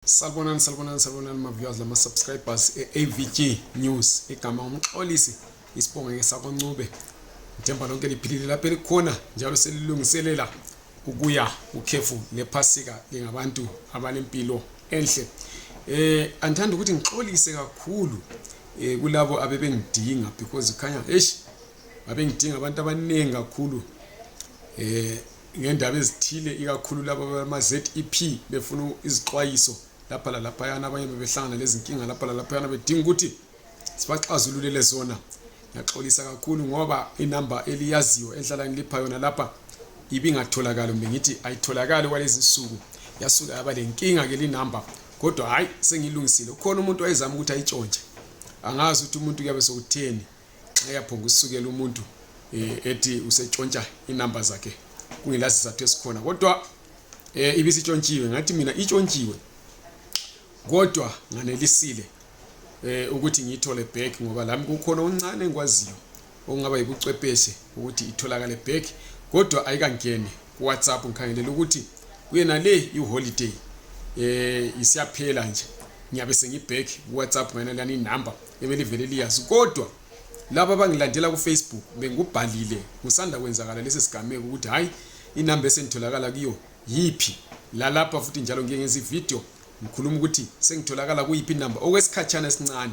Salbonan, salbonan, salbonan ma viewers la ma subscribers e-AVG News igama umxolisi isibongo ngesakoncube ngithemba lonke liphilile lapho elikhona njalo selilungiselela ukuya ukhefu lephasika lingabantu abalempilo enhle eh andithanda ukuthi ngixolise kakhulu eh kulabo abebengidinga because khanya eish babengidinga abantu abaningi kakhulu eh ngendaba ezithile ikakhulu laba bama-zep befuna izixwayiso lapha lalaphayana abanye bebehlangana lezinkinga lapha lalaphayana bedinga ukuthi sibaxazululele zona ngiyaxolisa kakhulu ngoba inamba eliyaziyo enhlala ngilipha yona lapha ibingatholakali kumbe ngithi ayitholakali kwalezi nsuku yasuka yaba le nkinga-ke linamba kodwa hhayi sengilungisile ukhona umuntu wayezama ukuthi ayitshontshe angazi ukuthi umuntu kuyabe sokutheni eyaphonga usukela umuntu eh, ethi usetshontsha inamba zakhe kungela sizathu esikhona kodwa eh, ibisitshontshiwe ngathi mina itshontshiwe kodwa nganelisile eh, ukuthi ngiyithole back ngoba lami kukhona uncane engikwaziyo okungaba yibucwepheshe ukuthi itholakale back kodwa ayikangeni kuwhatsapp ngikhangelela ukuthi kuyena le iholiday eh isiyaphela nje ngiyabe sengibhack kuwhatsapp ngena lani inumber ebelivele liyazi kodwa laba abangilandela kufacebook bengikubhalile kusanda kwenzakala lesi sigameko ukuthi hhayi inumber esengitholakala kuyo yiphi lalapha futhi njalo ngiye ngenza ividiyo ngikhuluma ukuthi sengitholakala kuyiphi inumber okwesikhatshana esincane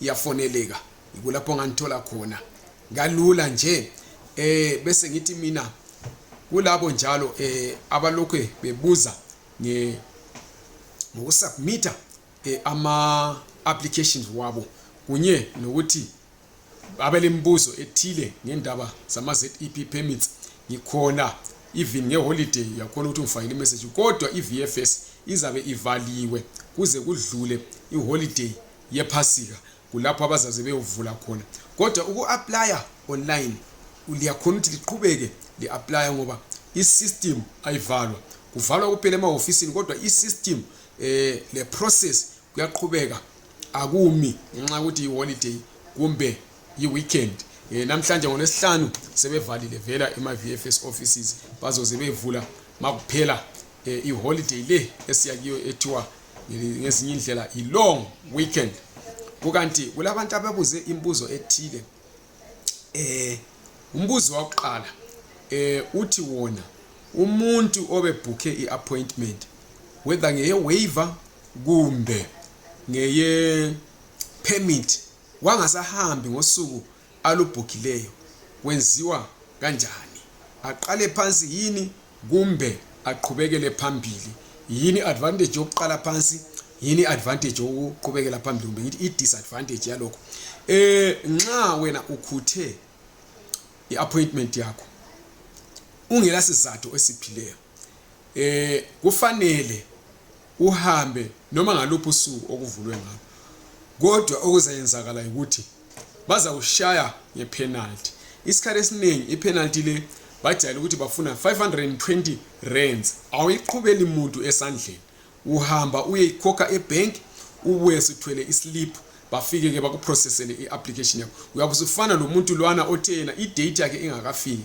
iyafoneleka yikulapho ngangithola khona kalula nje eh bese ngithi mina kulabo njalo eh abalokhu bebuza nge ngokusubmita eh, ama applications wabo kunye nokuthi abelembuzo ethile ngendaba zama ZEP permits ngikhona even ngeholiday yakhona ukuthi ngifakile imessage kodwa i-VFS izabe ivaliwe kuze kudlule iholiday yephasika kulapho abazaze beyovula khona kodwa uku-aplya online liyakhona ukuthi liqhubeke li-aplya ngoba i-system ayivalwa kuvalwa kuphela emahofisini kodwa i-system um eh, le-process kuyaqhubeka akumi ngenxa yokuthi yi-holiday kumbe yi-weekend um namhlanje ngolwesihlanu sebevalile vela ema-v f s offices bazoze bevula makuphela um eh, iholiday le esiyakiyo ethiwa ngezinye indlela yi-long weekend kukanti kulabantu ababuze imibuzo ethile eh umbuzo wakuqala eh uthi wona umuntu obebhukhe i-appointment whether ngeye-waiver kumbe ngeye-permit wangasahambi ngosuku alubhukileyo kwenziwa kanjani aqale phansi yini kumbe aqhubekele phambili yini advantage yokuqala phansi yini advantage yokuqhubekela phambili kumbe ngithi i-disadvantage yalokho eh nxa wena ukhuthe i-appointment yakho ungela sizathu esiphileyo eh kufanele uhambe noma ngaluphi usuku okuvulwe ngalo kodwa okuzayenzakala yikuthi bazawushaya ngepenalty isikhathi esiningi ipenalty le bajayele ukuthi bafuna 520 rands awuyiqhubeli muntu esandleni uhamba uyeyikhokha ebank ubuye sithwele islip bafike ke bakuprocessele i-application yakho uyabe usufana lo muntu lwana othe yena idate yakhe ingakafiki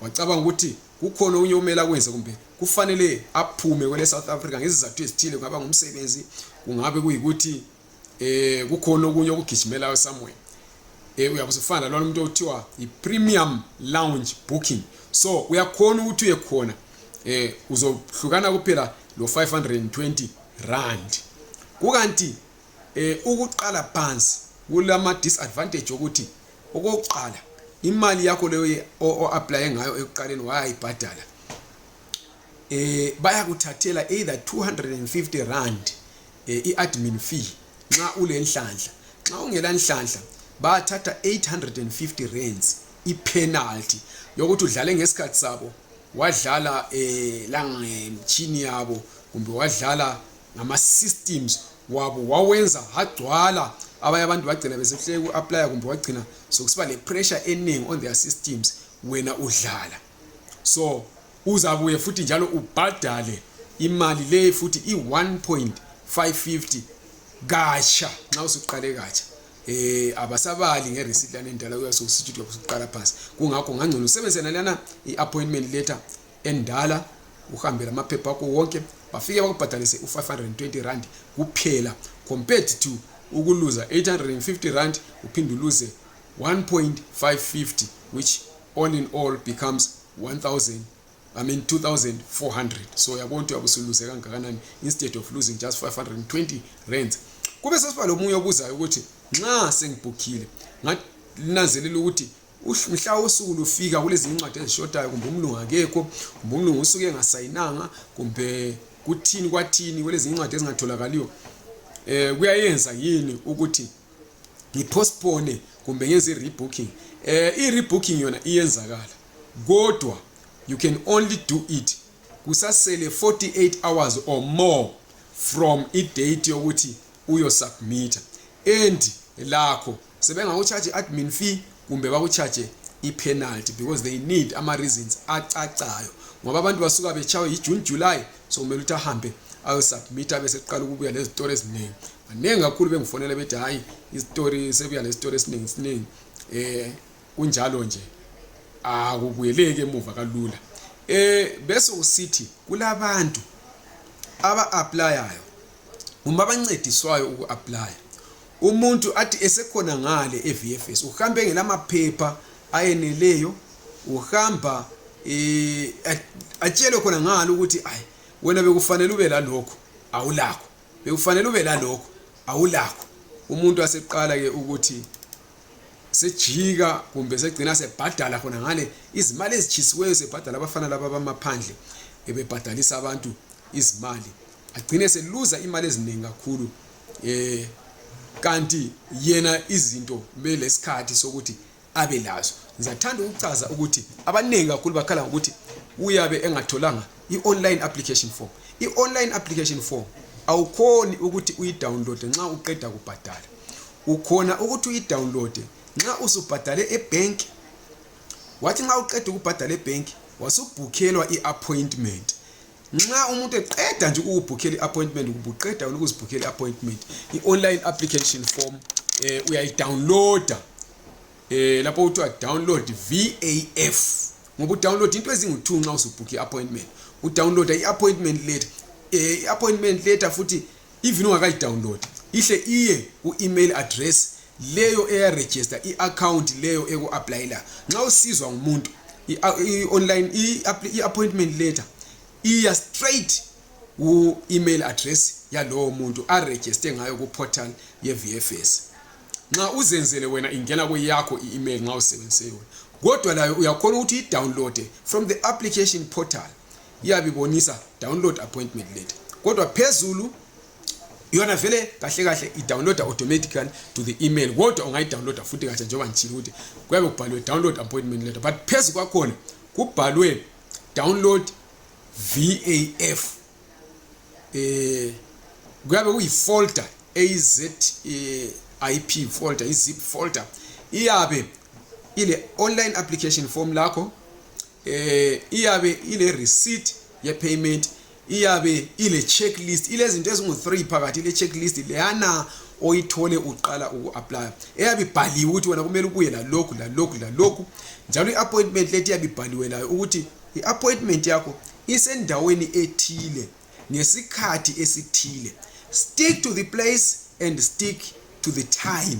wacabanga ukuthi kukhona okunye okumele akwenze kumbe kufanele aphume kwele South Africa ngezizathu ezithile kungaba ngumsebenzi kungabe kuyikuthi eh kukhona okunye okugijimelayo somewhere eh uyakuzifana lona umuntu othiwa i premium lounge booking so uyakhona ukuthi uye khona eh uzohlukana kuphela lo 520 rand kukanti eh ukuqala phansi kulama disadvantage ukuthi okokuqala imali yakho leyo o apply ngayo ekuqaleni wayayibhadala eh bayakuthathela either 250 rand eh, i admin fee nxa ulenhlanhla nxa ungela nhlanhla bathatha 850 rands i penalty yokuthi udlale ngesikhathi sabo wadlala eh langemchini yabo kumbe wadlala ngama systems wabo wawenza hagcwala abanye abantu bagcina besehluleka uku-aplya kumbe wagcina sokusiba le-pressure eningi on their systems wena udlala so uzabuye futhi njalo ubhadale imali leyi futhi i-1.550 katsha nxa usuqale katsha eh abasabali ngereceipt lana endala kuyasokusithi uyokuqala phansi kungakho ngangcono usebenzisena lana i-appointment letter endala uhambe lamaphepha akho wonke bafike bakubhadalise u-520 rand kuphela compared to ukuluza 850 rand uphinde uluze 1.550 which all in all becomes 1000 I mean 2400 so yabona ukuthi uyabusuluze kangakanani instead of losing just 520 rands kube sesiba lomunye obuzayo ukuthi nxa sengibhukhile ngananzelela ukuthi mhla usuku lufika kulezinye incwadi ezishotayo kumbe umlungu akekho kumbe umlungu usuke engasayinanga kumbe kuthini kwathini kulezinye incwadi ezingatholakaliyo um kuyayenza yini ukuthi ngipostpone kumbe ngenze i-rebooking eh i-rebooking yona iyenzakala kodwa you can only do it kusasele 48 hours or more from i-date yokuthi uyosubmita and lakho sebengakucharge admin fee kumbe bakucharge ipenalty because they need ama reasons acacayo ngoba abantu basuka betshawe yijune july so kumele ukuthi ahambe ayosubmit abe seqala ukubuya lezitori eziningi baningi kakhulu bengifonela bethi hhayi izitori sebuya lezitori esiningi siningi um kunjalo nje akubuyeleki emuva kalula um bese usithi kulabantu aba-aplayayo kumbe abancediswayo uku-aplaya Umuntu athi esekhona ngale eVFS uhambe ngelamaphepha ayeneleyo uhamba eh atshelwe khona ngalo ukuthi ayi wena bekufanele ube lalokho awulakho bekufanele ube lalokho awulakho umuntu aseqala ke ukuthi sejika kumbe segcina sebhadala khona ngale izimali ezitshisiweyo sebhadala abafana laba bamaphandle ebebhadalisa abantu izimali agcine seluza imali eziningi kakhulu eh kanti yena izinto kumele lesikhathi sokuthi abe lazo ngizathanda ukuchaza ukuthi abaningi kakhulu bakhala ngokuthi uyabe engatholanga i-online application form i-online application form awukhoni ukuthi uyidownloade nxa uqeda kubhadala ukhona ukuthi uyidownloade nxa usubhadale ebhenki wathi nxa uqeda ukubhadala ebhenki wasubhukhelwa i-appointment nxa umuntu eqeda nje ukubhukhela i-appointment ubuqeda ukuzibhukhela i-appointment i-online application form eh, uyayidownloada eh, lapho kuthiwa download vaf ngoba udownload into ezingu-two nxa usubhukhe i-appointment udownloada i-appointment letter eh, i-appointment letter futhi even ungakayidownload ihle iye ku-email address leyo eyaregister i-account leyo eku-aplayela nxa usizwa ngumuntu i-online i-appointment letter iya straight ku-email address yalowo muntu aregiste ngayo ku-portal ye-vfs nxa uzenzele wena ingena kweyakho i-email nxa usebenzise yona kodwa layo uyakhona ukuthi idownloade from the application portal iyabe ibonisa download appointment letter kodwa phezulu yona vele kahle kahle idownloada automatically to the email kodwa ungayidownloada futhi kahle njengoba ngitshile ukuthi kuyabe kubhalwe download appointment letter but phezu kwakhona kubhalwe download vaf eh kuyabe kuyifolder az eh, ip folder izip folder iyabe ile online application form lakho eh iyabe ile receipt ye payment iyabe ile checklist ilezinto ezingu 3 phakathi ile checklist leyana oyithole uqala uku-aplya eyabe ibhaliwe ukuthi wena kumele ubuye lalokhu lalokhu lalokhu njalo i-appointment lethi iyabe ibhaliwe layo ukuthi i-appointment yakho isendaweni ethile ngesikhathi esithile stick to the place and stick to the time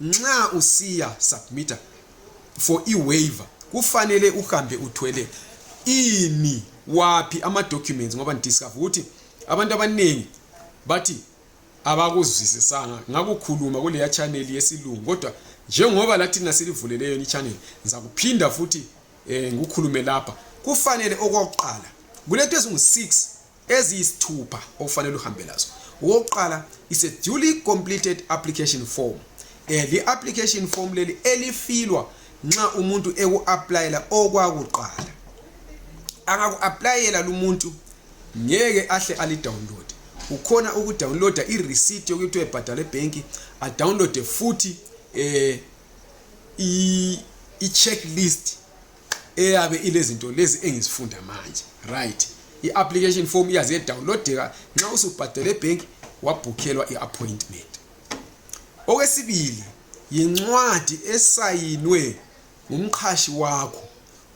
Nxa usiya submitter for i-waiver kufanele uhambe uthwele ini waphi ama-documents ngoba ndidiscover ukuthi abantu abaningi bathi abakuzwisisanga ngakukhuluma kuleya chaneli yesilungu kodwa njengoba lathi nasilivuleleyo ni channel ngizakuphinda futhi eh ngikukhulume lapha kufanele okwakuqala kulethu ezingu 6 eziyisithupha okufanele uhambe lazo okokuqala is a duly completed application form eh, li application form leli elifilwa nxa umuntu eku-aplayela okwakuqala angaku-aplayela lumuntu ngeke ahle alidownload ukhona ukudownloada ireceipt yokuthi ebhadale ebhenki adownloade futhi um eh, i-checklist eyabe ilezinto lezi engizifunda manje right i-application form iyaze yedawunlodeka nxa usubhadele ebhenki wabhukhelwa i-appointment okwesibili yincwadi esayinwe ngumqhashi wakho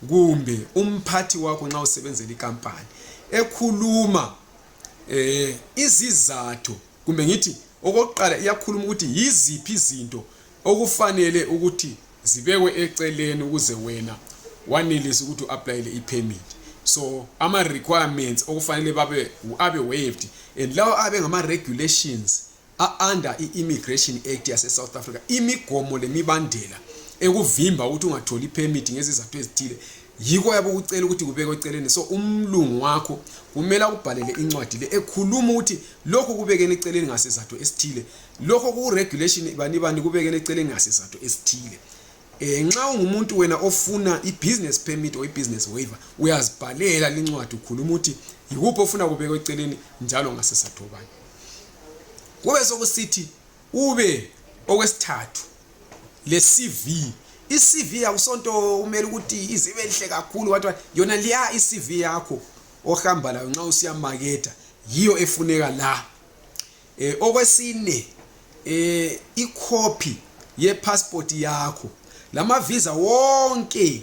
kumbe umphathi wakho nxa usebenzela ikampani ekhuluma eh izizathu kumbe ngithi okokuqala iyakhuluma ukuthi yiziphi izinto okufanele ukuthi zibekwe eceleni ukuze wena wanelise ukuthi u-aplayele i-permit so ama-requirements okufanele babe abe waived and lawo abe ngama-regulations a-under i-immigration act yase-south africa imigomo lemibandela ekuvimba ukuthi ungatholi i-permit ngezizathu ezithile yiko yabe ukucela ukuthi kubekwe eceleni so umlungu wakho kumele akubhalele incwadi le ekhuluma ukuthi lokho kubekene eceleni ngasizathu esithile lokho kuregulation bani bani kubekene eceleni ngasizathu esithile eh nxa ungumuntu wena ofuna ibusiness permit or ibusiness waiver uyazibhalela lincwadi ukhuluma ukuthi yikuphi ofuna kubekwe eceleni njalo ngasizathu bani kube sokusithi Ube okwesithathu le CV iCV yakusonto kumele ukuthi izibe lihle kakhulu wathi yona liya iCV yakho ohamba layo nxa usiya maketha yiyo efuneka la eh okwesine eh icopy ye passport yakho lama visa wonke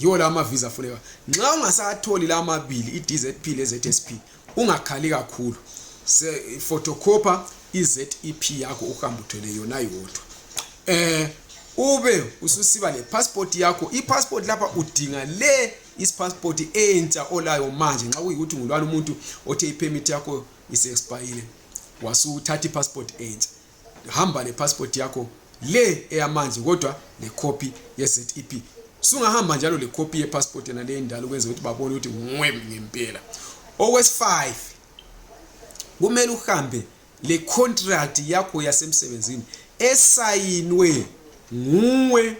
yiwo la amaviza afuneka nxa ungasatholi la amabili i-dzp le-zsp ungakhali kakhulu photocopha i-zep yakho uhambe uthwele yona yodwa eh ube ususiba lepassport yakho ipassport lapha udinga le isipassport entsha olayo manje nxa kuyikuthi ngulwana umuntu othe ipermit yakho isiexpayile wasuthatha ipassport entsha hamba lepassport yakho le eyamanzi kodwa lekhophi ye-zep sungahamba njalo lekhophi yepassport yena le endala ukwenza ukuthi babone ukuthi nguwe ngempela okwesi-five kumele uhambe le contract yakho yasemsebenzini esayinwe nguwe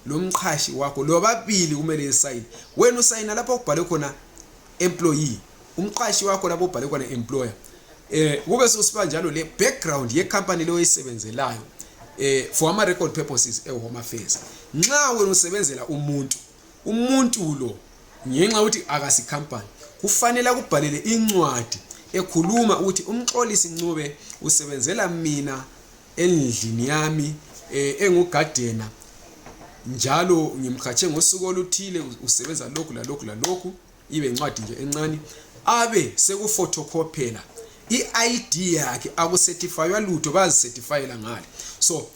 lo mqhashi wakho lobabili kumele esayine wena usayina lapho okubhalwe khona employee umqashi wakho lapho ubhale khona employer eh kube sokusiba njalo le background ye company leyo oyisebenzelayo eh for ama record purposes e home affairs nxa wena usebenzela umuntu umuntu lo ngenxa ukuthi akasi company kufanele akubhalele incwadi ekhuluma ukuthi umxolisi Ncube usebenzela mina endlini yami eh, engugadena njalo ngimkhatshe ngosuku oluthile usebenza lokhu lalokhu lalokhu ibe yincwadi nje encane abe sekufotokhophela i-id yakhe akusetifaywa lutho bayazisetifayela ngale so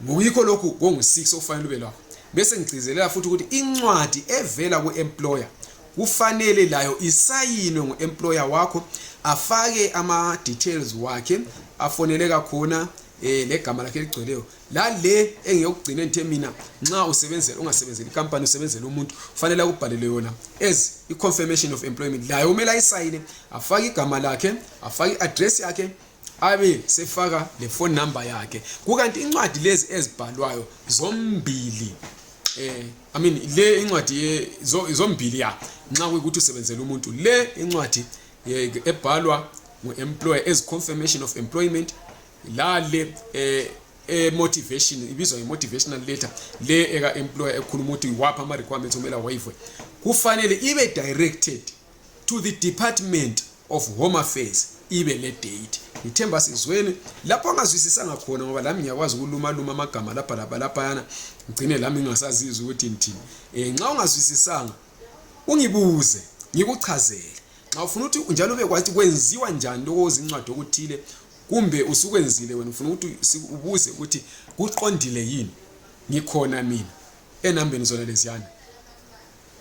ngokuyikho lokhu kongu-six okufanele ube lakho bese ngigcizelela futhi ukuthi incwadi evela ku-employer kufanele layo isayinwe ngu-employer wakho afake ama-details wakhe afoneleka khona um eh, legama lakhe eligcweleyo lale engiyokugcina ngithe mina nxa usebenzela ungasebenzeli ikampani usebenzela umuntu kufanele akubhalele yona as i-confirmation of employment layo kumele ayisayine afake igama lakhe afake i-address yakhe abe sefaka le phone number yakhe kukanti incwadi lezi ezibhalwayo zombili eh i mean le incwadi zombili ya nxa kuyikuthi usebenzela umuntu le incwadi ebhalwa ngu-employer as confirmation of employment lale eh e motivation ibizwa nge motivational letter le eka employer ekhuluma ukuthi wapha ama requirements omela waive kufanele ibe directed to the department of home affairs ibe le date ngithemba sizweni lapho angazwisisanga khona ngoba lami ngiyakwazi ukulumaluma amagama lapha lapha laphayana ngigcine lami ngingasazizi ukuthi ngithini um nxa ungazwisisanga ungibuze ngikuchazele nxa ufuna ukuthi njalo ube kwathi kwenziwa njani lokho ozincwadi okuthile kumbe usukwenzile wena ufuna ukuthi ubuze ukuthi kuqondile yini ngikhona mina enambeni zona leziyana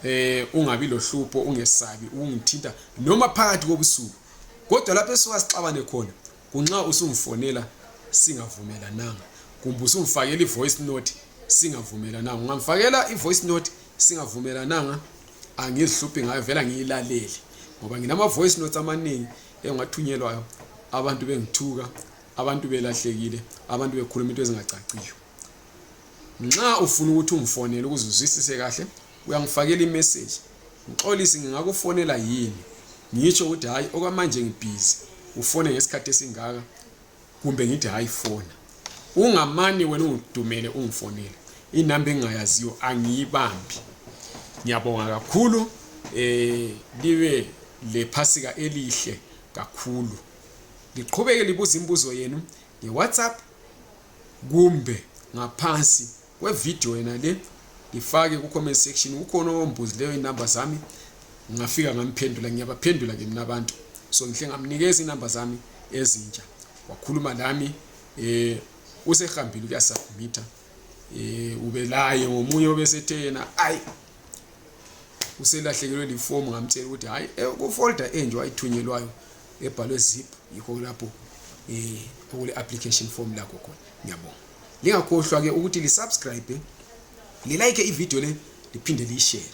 eh ungabi lohlupho ungesabi ungithinta noma phakathi kobusuku kodwa lapho esuka sixabane khona kunxa usungifonela singavumelananga kumbe usungifakela i-voice note singavumelananga ungamfakela i-voice note singavumelananga angizihluphi ngayo vela ngiyilalele ngoba nginama-voice notes amaningi engathunyelwayo abantu bengithuka abantu belahlekile abantu bekhuluma into ezingacaciyo nxa ufuna ukuthi ungifonele ukuze uzwisise kahle uyangifakela imeseji ngixolisi ngingakufonela yini ngitsho ukuthi hhayi okwamanje ngibhizi ufone ngesikhathi esingaka kumbe ngithi hayi fona ungamane wena ungidumele ungifonele inamba engingayaziyo angiyibambi ngiyabonga kakhulu um libe lephasika elihle kakhulu liqhubeke libuza imibuzo yenu ngewhatsapp kumbe ngaphansi kwevideo yena le ngifake ku-comment section kukhona owombuzileyo inumber zami ngafika ngamphendula ngiyabaphendula ke mina abantu so ngihle ngamnikeza inumber zami ezintsha wakhuluma lami eh usehambile kuyasubmita eh ubelaye ngomunye obesethe yena ayi uselahlekelwe lifomu ngamtshela ukuthi hayi eh, kufolder enje wayithunyelwayo ebhalwe zip yikho lapho eh okule application form lakho khona ngiyabonga lingakhohlwa ke ukuthi lisubscribe lilike ivideo le liphinde liyishere